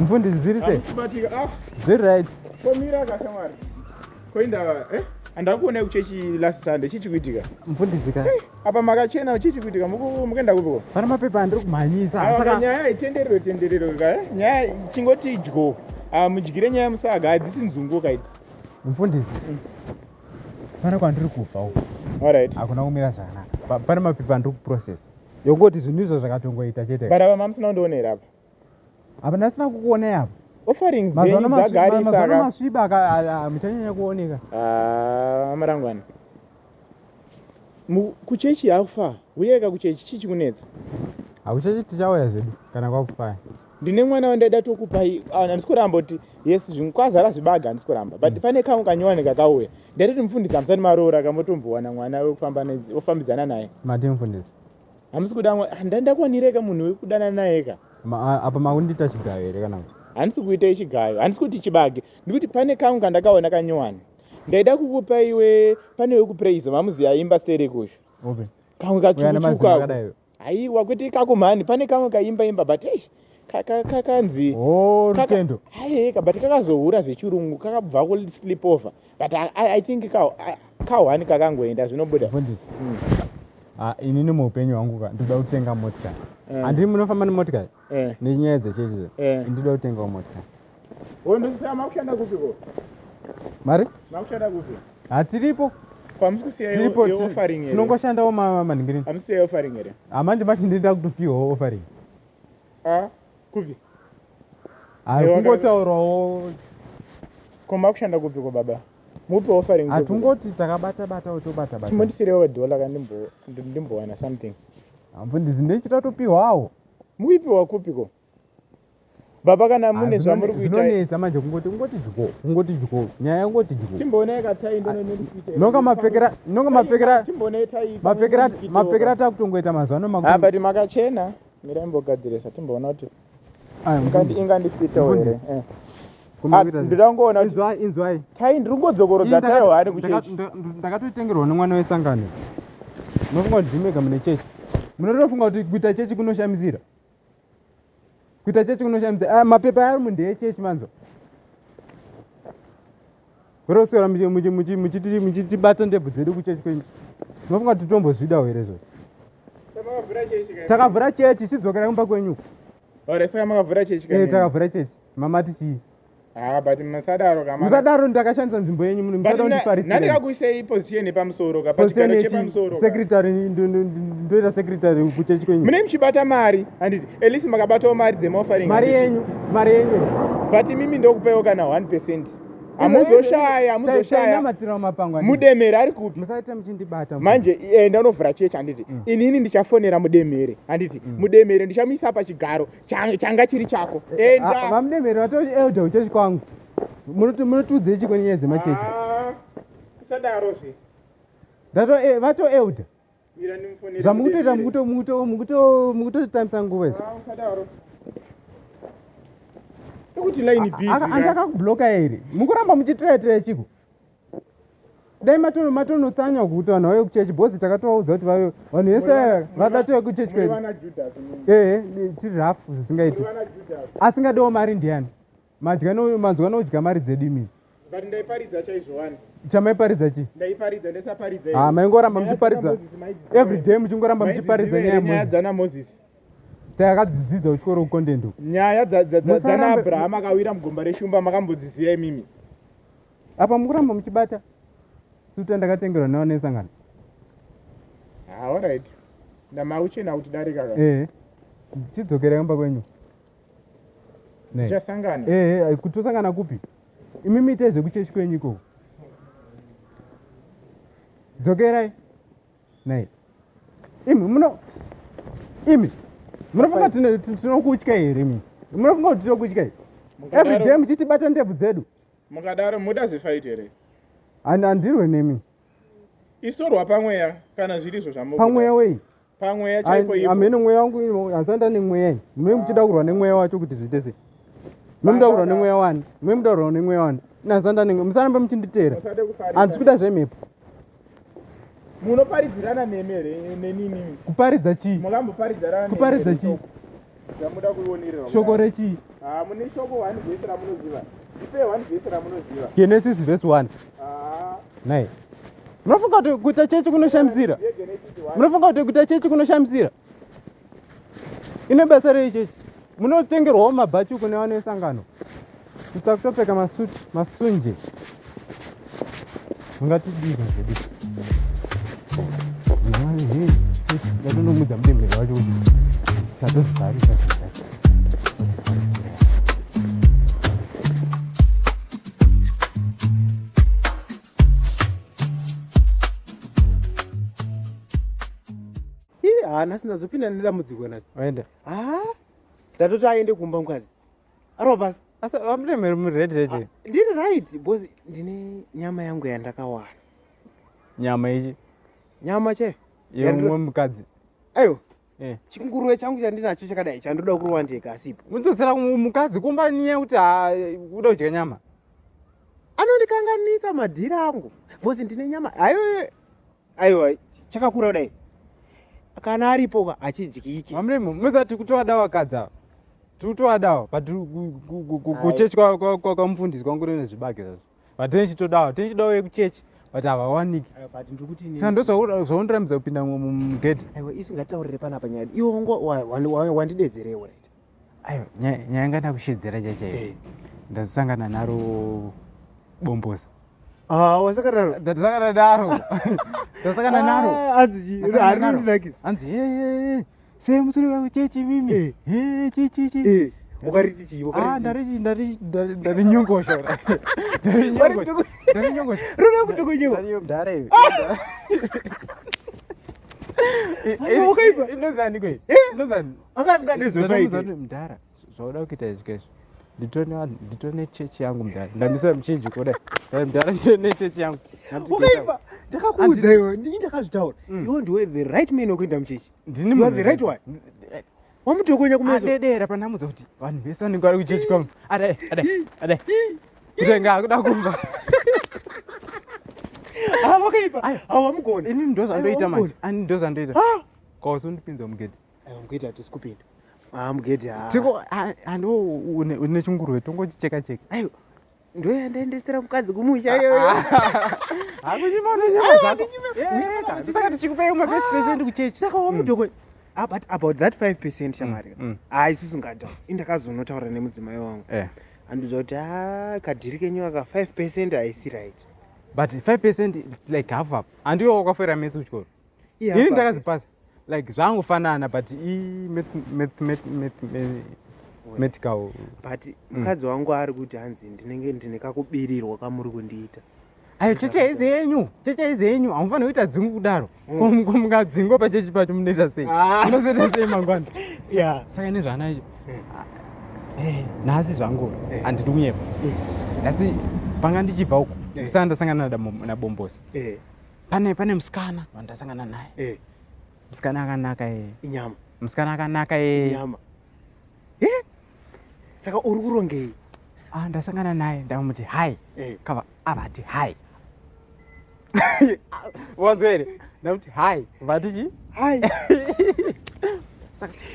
mfundisi zviri sei ah. zviri right komira kashamwari koindava eh? andakuonai kuchechi last sunday chichikuitika mfundisi ka eh. apa makachena chichi kuitika mukuenda kupiko pana mapepa andiri kumhanyisa ah, saka nyaya itenderero tenderero ka eh? nyaya chingoti idyo ah, mudyire nyaya musaga hadzisi nzungu ka idzi mufundisi mm. pana kwandiri kubva uko orit hakuna kumira zvakanaka pana mapepa andiri kuprocess yokoti zvinhu izvo zvakatongoita chete but apa mamusina kundionera apa apa ndasina kukuonai apa offering dzenyu dzagarisa mazano masviba muchanyanya kuoneka ah, marangwana kuchechi yakufa huyeka kuchechi chii chikunetsa hakuchechi tichauya zvedu kana kwakufaya ndine mwana wandaida tokupai ah, handisi kuramba kuti yes kwazara zvibaga handisi kuramba but mm. pane kamwe kanyowani kakauya ndaitoti mufundisi hamusati maroora kamotombowana mwana wekufambidzana naye mati mufundisi hamusi kuda amwe ah, ndandakwanireka munhu wekudana nayeka apa makundiita chigayo here kana handisi kuita ichigayo handisi kuti chibage ndikuti pane kangu kandakaona kanyowani ndaida kukupa iwe pane wekupraise mamuzi yaimba sterekusho okay. kamwe kachukuchuka aiwa kuti ikako mhani pane kamwe kaimba imba but eish kakanzi oh, rutendo haeka but kakazohura zvechirungu kakabva kuslip over but i, I, I think ka kahwani kakangoenda zvinobuda mfundisi mm. Ah, inini muupenyu hwangu ka ndinoda kutenga motikari eh. andii munofamba nemotikari eh. nenyaya dzechechi eh. ndinoda kutengawo motikari wondosisa makushanda kupi ko mari makushanda kupi hatiripo kwamusikusiyatinongoshandawo maningirini amusiyai offering here hamandi mati ndinoda kutopiwawo offering ah, kupi hakungotaurawo koma kushanda kupiko baba mupe offering hatungoti takabata bata utobata bata chimondisirewo dollar ka ndimbo ndimbowana something ambo ndizi ndechita topiwawo muipiwa kupiko baba kana mune zvamuri kuita zvinonetsa manje kungoti kungoti dyo kungoti dyo nyaya kungoti dyo timboonai katai ndononekuita nonga mapfekera nonga mapfekera timboonai tai mapfekera mapfekera takutongoita mazuva no makuru but makachena mira imbogadzirisa timboona kuti ingandifitawo here eh. ah, ndoda kungoona inzwai tai ndiri kungodzokorodza tayo hani kuchechi ndakatoitengerwa nemwana wesangano munofunga kuti ndimega mune chechi munotofunga kuti kuita chechi kunoshamisira kuita chechi kunoshamisira ah, mapepa ari mundeechechi manzwa Kurosora muchitibata ndebvu dzedu kuchechi kwenyu. Munofunga kuti tombozvida here zvo? Takavhura chechi chidzokera kumba kwenyu. Ore saka makavhura chechi kwenyu. Eh takavhura chechi. Mama tichi. Ah but musadaro kama. Musadaro ndakashandisa nzvimbo yenyu muno. Musadaro ndifarisi. Nani kakuisei position yepamusoro ka pachigaro chepamusoro. Secretary ndoita secretary kuchechi kwenyu. Mune muchibata mari handiti? At least makabatawo mari dzemofaring. Mari yenyu, mari yenyu. But mimi ndokupaiwo kana 1%. hamuzoshaya hamuzoshaya mudemhere ari kupi manje enda eh, unovhura chechi handiti mm. inini ndichafonera mudemhere handiti mm. mudemhere ndichamuisa pachigaro changa chiri chako eh, eh, endavamudemhere ah, vatori elder uchechi kwangu munotiudzei chiko nenyaya dzemachechi ah, kusadarozve vato elder zvamukutoita mukutotambisa nguva izvo ekuti line busy andi akakubloka here mukuramba muchitreya treya chiko dai matono matono tsanya kuti vanhu vave kuchechi bozi takatovaudza kuti vave vanhu vese vakatove kuchechi kwedu ee tiri rafu zvisingaiti asingadiwo mari ndiyani Madya no manzwa nodya mari dzedu imi. But ndaiparidza chaizvo wani. Chamaiparidza chi? Ndaiparidza ndaisaparidza here? Ah maingoramba muchiparidza. Every day muchingoramba muchiparidza nyaya Moses. Nyaya dzana Moses. Takadzidzidza kuchikoro content. Nyaya dzana Abraham akawira mugomba reshumba makambodziziya imimi. Apa mukuramba muchibata. Suta ndakatengerwa nawo nesangano. Ah all right. Ndamauchena kuti darika ka. Eh. Chidzokerai kumba kwenyu. tichasangana eh, eh, kuti tosangana kupi imi miite zvekuchechi kwenyu ikoko dzokerai nai imi muno imi munofunga tinokutya here mi munofunga kuti tinokutya here everyday muchitibata ndebvu dzedu mukadaro muda zvifaiti here handirwe nemi isorwa pamweya kana zviri izvo zvamupamweya wei pamweya chaipo ipo amene mweya wangu hansanda nemweya ini mwe muchida kurwa nemweya wacho kuti zviite sei mwe muda kurwa nemweya wani mwe muda kurwa nemweya wani nansanda nemweya musarambe muchinditeera handisi kuda zvemhepo munoparidzirana nemi here nenini kuparidza chii makamboparidzirana kuparidza chii zvamuda kuionererwa shoko rechii ah, mune shoko one vhesi ramunoziva ipe one vhesi ramunoziva genesis vhesi one ah. nai munofunga kuti kuita chechi kunoshamisira munofunga kuti kuita chechi kunoshamisira ine basa rei chechi munotengerwawo mabhachuku nevanoesangano ita kutopfeka masuit masunje ungatidika zvedi ndatonomudza mudembere wacho kuti tatozvarisa haana sindazopinda nedambudziko nasi aenda ah, ndatoti aende kumba mukadzi arobas asi vamutemeri mured red ah, ndiri right because ndine nyama yangu yandakawana nyama ichi nyama che yemwe mukadzi ayo eh. chinguruve changu chandinacho chakadai chandoda kurova ndega asipo mudzodzera mukadzi kumba niye kuti ah, uda kudya nyama anondikanganisa madhiri angu because ndine nyama ayo aiwa chakakura kudai kana aripo achidyike mamremo muzati kutoadawa kadza tikutoadawa but kuchechi kwakamufundisi kwangu rine zvibage zvazvo but tenichitodawa tenichidawa yekuchechi but havawaniki ndozvaundiramidza kupinda mugedhi iwe isingataurire panapa nyaya iwe wandidedzerewo right ayo nyaya nga ndakushedzera chachaiyo eh. ndazosangana naro bomboza ah, wasakanaasakana naro ndasakana ah, naro anzihanzi sei musiri wako chechi mimi eh. chichichi eh, ukariti chii ah, ndarinyongosha ndarinyongosha rona kutokonyewa akasingadezvepaiite mudhara zvauda kuita izvi kaizvi nditone chechi yangu mudhara ndamisa muchinji kuda mudhara nditone chechi yangu ukaipa ndakakuudza iwe ndii ndakazvitaura mm. iwe ndiwe the right man wekuenda muchechi ndini the right one wamutokonya kumeadedera pandamudza kuti vanhu vese vanenge vari kuchechi kwangu adai adai adai kutenga akuda kumba awakaipa awamugona ini ndozvandoita manje ani ndozvandoita kausundipinza mugedhi mugedhi hatisi kupinda haa mugedhi haa tiko hando une chingurwe tongochicheka cheka aiwa ndoyandaendesera mukadzi kumusha iyoyoakunyimaausaka tichikupei ma five percent kuchechi saka wamudoko mm. ah, but about that five percent mm, shamari mm. haa isisu ngada indakazonotaura nemudzimai wangu eh. andiudza kuti haa ah, kadhiri kenyu aka five percent haisi right but five percent its like half up andiwo wakafoira mese kuchikoro ini ndakazipasa like zvangofanana but imedical but mm. mukadzi wangu ari kuti hanzi ndinenge ndine kakubirirwa kamuri kundiita ayo cheche izi yenyu cheche izi yenyu hamufanira kuita dzingu kudaro mm. komukazingo pachechi pacho munoita sei ah. munozoita sei mangwana saka ine zvaanaicho mm. ah, eh, nhasi zvangu eh. handidi kunyepa eh. nhasi panga ndichibva uku ndisana ndasangana nabombosa pane pane musikana wandasangana naye eh. musikana akanaka ye inyama musikana akanaka ye inyama e saka uri kurongei ah, ndasangana naye ndamuti hai eh. kava avati hai wanzwa here ndamuti hai vati chi hai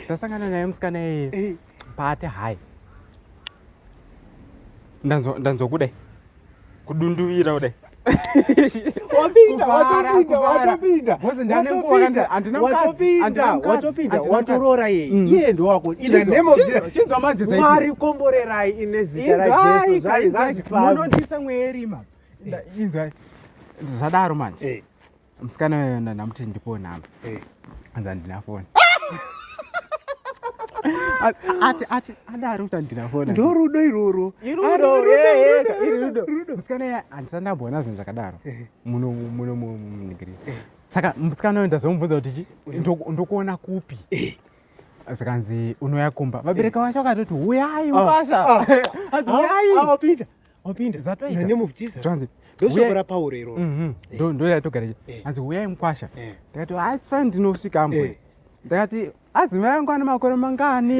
ndasangana naye musikana yeye eh. pate hai ndanzwa kudai kudunduvira kudai watoroora yeye ndowakoinzwa manje mwari komborerai ine zita rajesu zvaizazvifamunondisa mweerima inzwai zvadaro manje eh. musikana uyo ndamuti ndipo nhamba eh. anzi handina foni ati ati adaro kuti handina foni ndorudo iroro musikana uyo handisati ndamboona zvinhu zvakadaro eh. muno muno munigiri eh. saka musikana uyo ndazomubvunza kuti chi ndokuona kupi zvikanzi unouya kumba vabereka vacho vakatoti huyai mubasa anzi huyai wapinda zvatoita name of jesus transit ndoshoko rapauro iro mhm. eh. ndo ndo yatogara eh. hanzi huyai mukwasha eh. ndakati ah it's fine ndinosvika ambo ndakati adzimai ah, angu ane makore mangani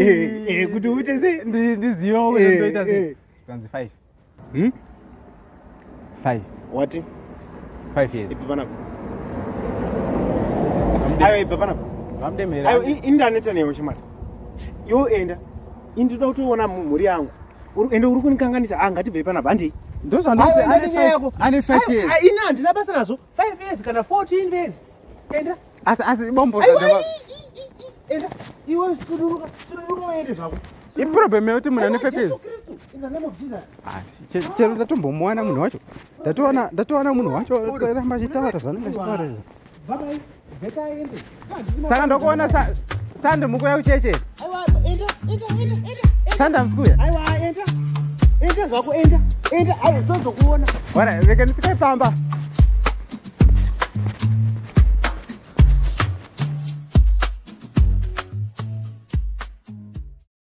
kuti uite sei ndiziva uyo ndoita sei hanzi five hmm? five wati five years ipi panapo ayo ibva panapo vamdemera ayo indaneta newe chimari yoenda indinoda kutoona mhuri yangu ende uri kunikanganisa ah, ngatibvei panapa handei ndozvandoyako ini handina basa nazvo five years kana fourteen years enda asi asi bombo enda iwe suduruka suduruka uende zvako iproblem yekuti munhu ane fepezi ah, chero ndatombomuwana munhu wacho ndatowana munhu wacho ramba achitaura zvanenge achitaura izvo saka ndokuona sande mukuya kucheche sande amusikuya enda zvako enda enda ayo tozokuona wara rega ndisikai pamba